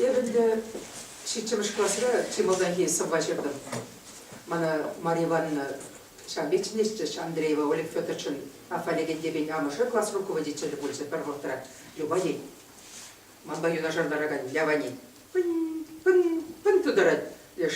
Эп ӗнтӗ ҫиччӗмӗш класра чи малтанхи сӑвва ҫыртӑм. Мана Мария Ивановна ҫав вӗҫнӗччӗҫ Андреева Олег Петровичӑн Афалегендепен амӑшӗ класс руководителӗ пулчӗ пӗр вӑхӑтра Любаний. Манпа юнашар ларакан Лявани пын-пын-пын тутарать леш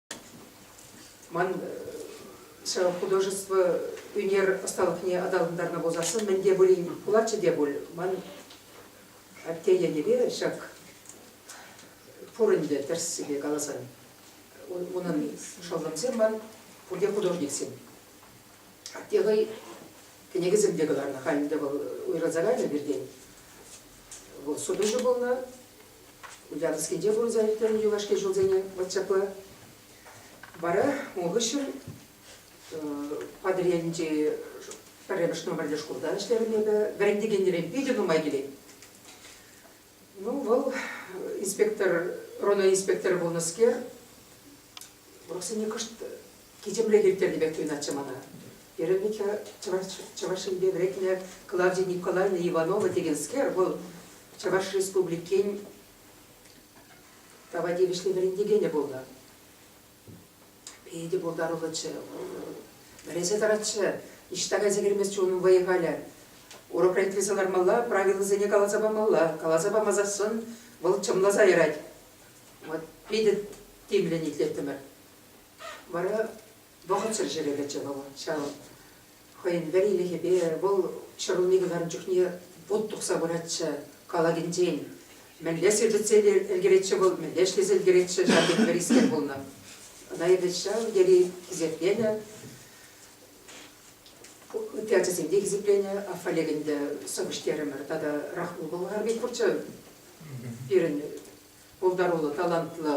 Ман художество ӳнер ӑсталӑхне аталантарнӑ пулсассӑн мӗн те пулин пулатчӗ те пуль. Ман атте ятӗпе ҫак пур ӗнтӗ тӗрӗссипе каласан. Унӑн шӑллӑмсем ман пурте художниксем. Атте хӑй кӗнекесем те кӑларнӑ. Халь ӗнтӗ вӑл уйрӑлса кайнӑ пиртен. Вӑл сутуҫӑ пулнӑ, Утянскинче пурӑнса иртнӗ юлашки ҫулсене вӑт ҫапла. Вара ун хыҫҫӑн Патӑрьелӗнчи пӗрремӗш номерлӗ шкулта ӗҫлерӗм эпӗ. Вӗрентекенрен питӗ нумай килет. Ну, вӑл инспектор, РОНО инспекторӗ пулнӑскер, урӑхсене кӑшт кичемрех ирттернӗ пек туйӑнатчӗ мана. Вероника, чӑваш, Чӑваш Енпе вӗретнӗ Клавдия Николаевна Иванова текенскер, вӑл Чӑваш Республикин тава тивӗҫлӗ вӗрентекенӗ пулнӑ. Питӗ пултаруллӑччӗ. Вӗресе тӑратчӗ. Ниҫта кайса килместчӗ унӑн вӑйӗ халӗ. Урокра итлесе лармалла, правилӑсене каласа памалла. Каласа памасассӑн вӑл чӑмласа ярать. Вот питӗ тимлӗн итлеттӗмӗр. Вара вӑхӑтсӑр ҫӗре кӗчӗ вӑл ҫав хӑйӗн вӗрилӗхӗпе. Вӑл ҫӗрулми кӑларнӑ чухне вут тухса пыратчӗ калакӗнчен. Мӗнле сирпӗтсе ӗлкӗретчӗ вӑл, мӗнле ӗҫлесе ӗлкӗретчӗ, ҫав тери вӗрискер пулнӑ. Ӑна эпӗ ҫав тери хисепленӗ. Ытти ачасем те хисепленӗ, Аффалек ӗнтӗ сӑвӑҫ терӗмӗр. Тата Рахму Болгар пек пурччӗ пирӗн пултаруллӑ, талантлӑ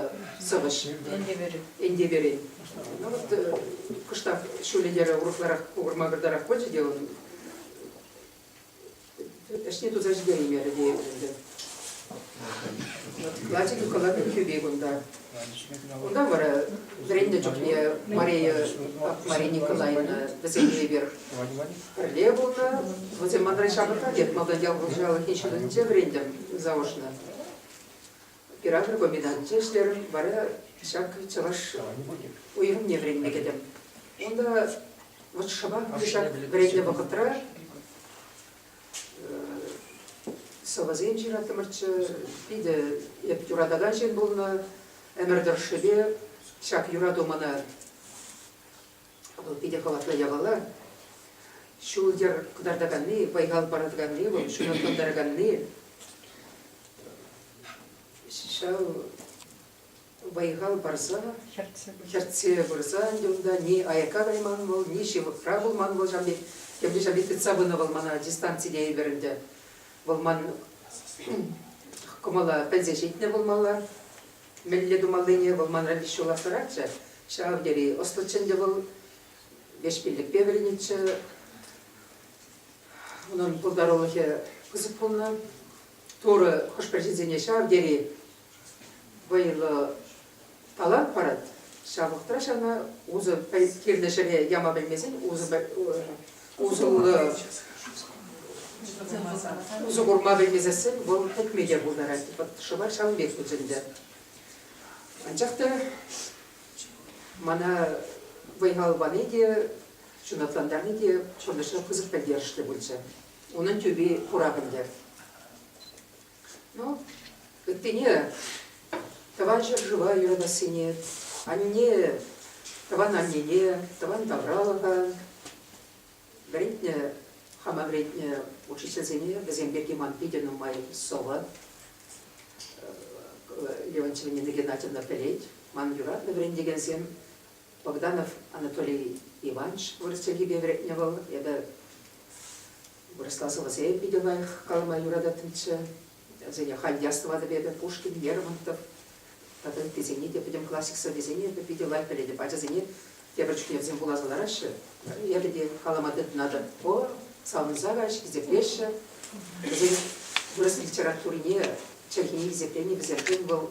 сӑвӑҫ Энтеперен. Ну вот э, кӑштах ҫулӗ йӗрӗ урӑхларах мӑкӑртарах пулчӗ те ун. Ӗҫне туса ҫитереймерӗ теетӗп ӗнтӗ. Ячӗкӗ кӑлатнӑ кӳпе кунта. Унта вара вӗреннӗ чухне Мария Мария Николаевна вӗсемпе эпир пӗрле пулнӑ. Вӗсем манра ҫамрӑкра, тет, малтан ял хуҫалӑхӗн ҫыннисенче вӗрентӗм заочно. Оператор комбинатне ӗҫлерӗм, вара ҫак чӑваш уйрӑмне вӗренме кӗтӗм. Унта вот шӑпах ҫак вӗреннӗ вӑхӑтра сӑвӑсем ҫыраттӑмӑрччӗ, питӗ эп юратакан ҫын пулнӑ ӗмӗр тӑршшӗпе ҫак юрату мана Вӑл питӗ хӑватлӑ япала. Ҫул-йӗр кӑтартаканни, вӑй-хал паратаканни, вӑл ҫунатлантараканни. Ҫав вӑй-хал парса, хӗртсе пырса ӗнтӗ унта ни аякка кайман вӑл, ни ҫывӑхра пулман вӑл ҫам пек. Тепре ҫам пек тытса пынӑ вӑл мана дистанцине ӳкер ӗнтӗ. Вӑл ман кӑмӑла пӗлсе ҫитнӗ пулмалла. Мӗнле тумаллине вӑл манра пит ҫула сӑратчӗ, ҫав тери ӑслӑччӗ ӗнтӗ вӑл, леҫпелӗкпе вӗренетчӗ. Унӑн пултарулӑхӗ пысӑк пулнӑ. Турӑ хӑш-пӗр ҫынсене ҫав тери вӑйлӑ талант парать. Ҫав вӑхӑтра ҫавна усӑ кирлӗ ҫӗре яма пӗлмесен усӑ усӑллӑ усӑ курма пӗлмесессен вӑл пӗтме те пултарать. Вӑт шӑпа ҫавӑн пек пулчӗ Анчах та мана вӑй-хал пани те, ҫунатлантарни те пурнӑҫра пысӑк пӗлтерӗшлӗ пулчӗ. Унӑн тӳпи курап ӗнтӗ. Ну, ыттине тӑван ҫӗршыва юратассине, анне тӑван аннене, тӑван тавралӑха вӗрентнӗ, хама вӗрентнӗ учительсене, вӗсем пирки ман питӗ нумай сӑвӑ Леонтьева Нина Геннадьевна пӗлет. Ман юратнӑ вӗрентекенсем Богданов Анатолий Иванович вырӑс чӗлхипе вӗрентнӗ вӑл. Эпӗ вырӑсласовӑсем питӗ лайӑх калама юрататтӑмччӗ. Вӗсене халь ястӑватӑп эпӗ, Пушкин, Лермонтов тата ыттисене те пӗтӗм классик сӑввисене эпӗ питӗ лайӑх пӗлетӗп. Ачасене тепӗр чухне вӗсем вуласа лараҫҫӗ. Эпӗ те калама тытӑнатӑп. О, савӑнса каҫ, хисеплеҫҫӗ. Вӗсен вырӑс литературине, чӗлхине хисепленӗ вӗсемшӗн вӑл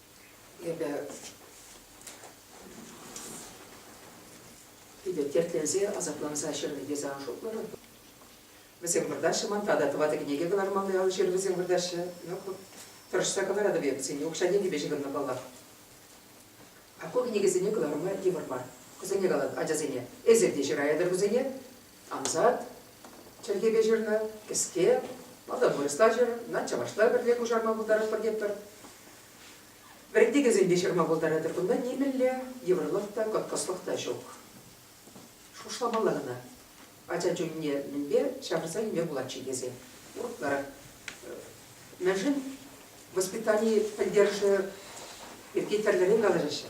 Эпӗ эпӗ тертленсе асапланса ҫырнӑ те сан шутларӑм. Вӗсем выртаҫҫӗ ман тата тӑватӑ кӗнеке кӑлармалли ал ҫыр вӗсем выртаҫҫӗ. Yok тӑрӑшса кӑларатӑп эп сине укҫа-тенкӗпе ҫыхӑннӑ паллах. А ку кӗнекесене кӑларма йывӑр мар. Кӑсӑне калат ачасене. Эсир те ҫыраятӑр вӗсене. Ансат чӗлхепе ҫырнӑ кӗске мордовоецла ҫырнӑ, чӑвашла пӗрле куҫарма пултаратпӑр тетпӗр. Вӗрентекенсен те ҫырма пултаратӑр кунта нимӗнле йывӑрлӑх та, кӑткӑслӑх та ҫук. Шухӑшламалла кӑна. Ача чунне мӗнпе ҫавӑрса илме пулать-ши тесе урӑхларах. Мӗншӗн воспитани пӗлтерӗшӗ пирки тӗрлӗрен калаҫаҫҫӗ.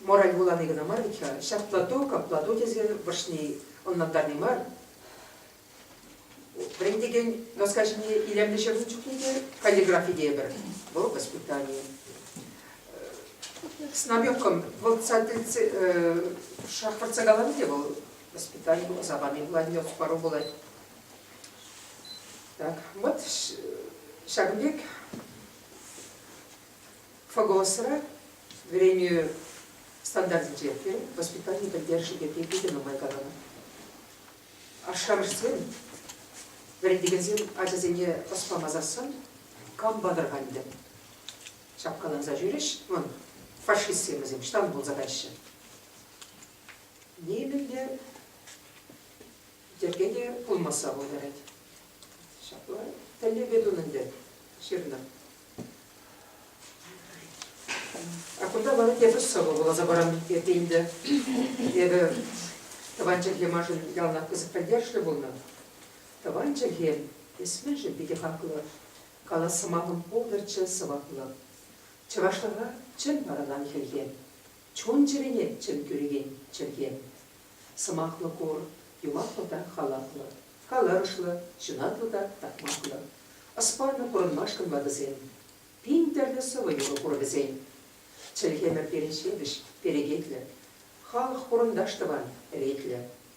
Мораль вулани кӑна мар вӗт-ха, ҫаплату, каплату тесен вӑрҫни ӑнлантарни мар. Вӗрентекен доска ҫине илемлӗ ҫырнӑ чухне те каллиграфи тейӗпӗр. Вӑл воспитание. С намеком вӑлтса тӗлтсе шахтӑртса каланӑ те вӑл воспитани ӑса пани пулать, пару пулать. Так, вот ҫакӑн пек ФОГОСра вӗренӳ стандартӗнче те воспитани пӗлтерӗшӗ пирки питӗ нумай каланӑ. Ашшӗ-амӑшсем, вӗрентекенсем ачасене ӑс пама сассӑн кампа тӑрхантӗм. Ҫапкаланса ҫӳрӗҫ, вӑн фашистсем вӗсем штанг пулса каҫҫӗ. Нимӗнле йӗркене пулмасса пултарать. Ҫапла тӗллеве тунӑ ӗнтӗ ҫырнӑ А кунта вара эпӗ сӑвӑ вуласа парам эпӗ ӗнтӗ. Эпӗ тӑван чӗлхе маншӑн яланах пысӑк пӗлтерӗшлӗ пулнӑ. Тӑван чӗлхе эсмӗншӗн питӗ хаклӑ. Калас сӑмахӑм пултӑрччӗ сӑваплӑ. Чӑвашлӑха чӑн парӑнам хӗлхе. Чун-чӗрене чӗн кӳрекен чӗлхе. Сӑмахлӑ кур, юваплӑ та халаплӑ, каларӑшлӑ, ҫунатлӑ та такмаклӑ. Ӑспаллӑ курӑнмашкӑн ватӑсем. Пин тӗрлӗ сӑвӑ-юрӑ кур вӗсен. Чӗлхемӗр пире ҫепӗҫ, перекетлӗ. Халӑх-хурӑнташ тӑван, ӗретлӗ.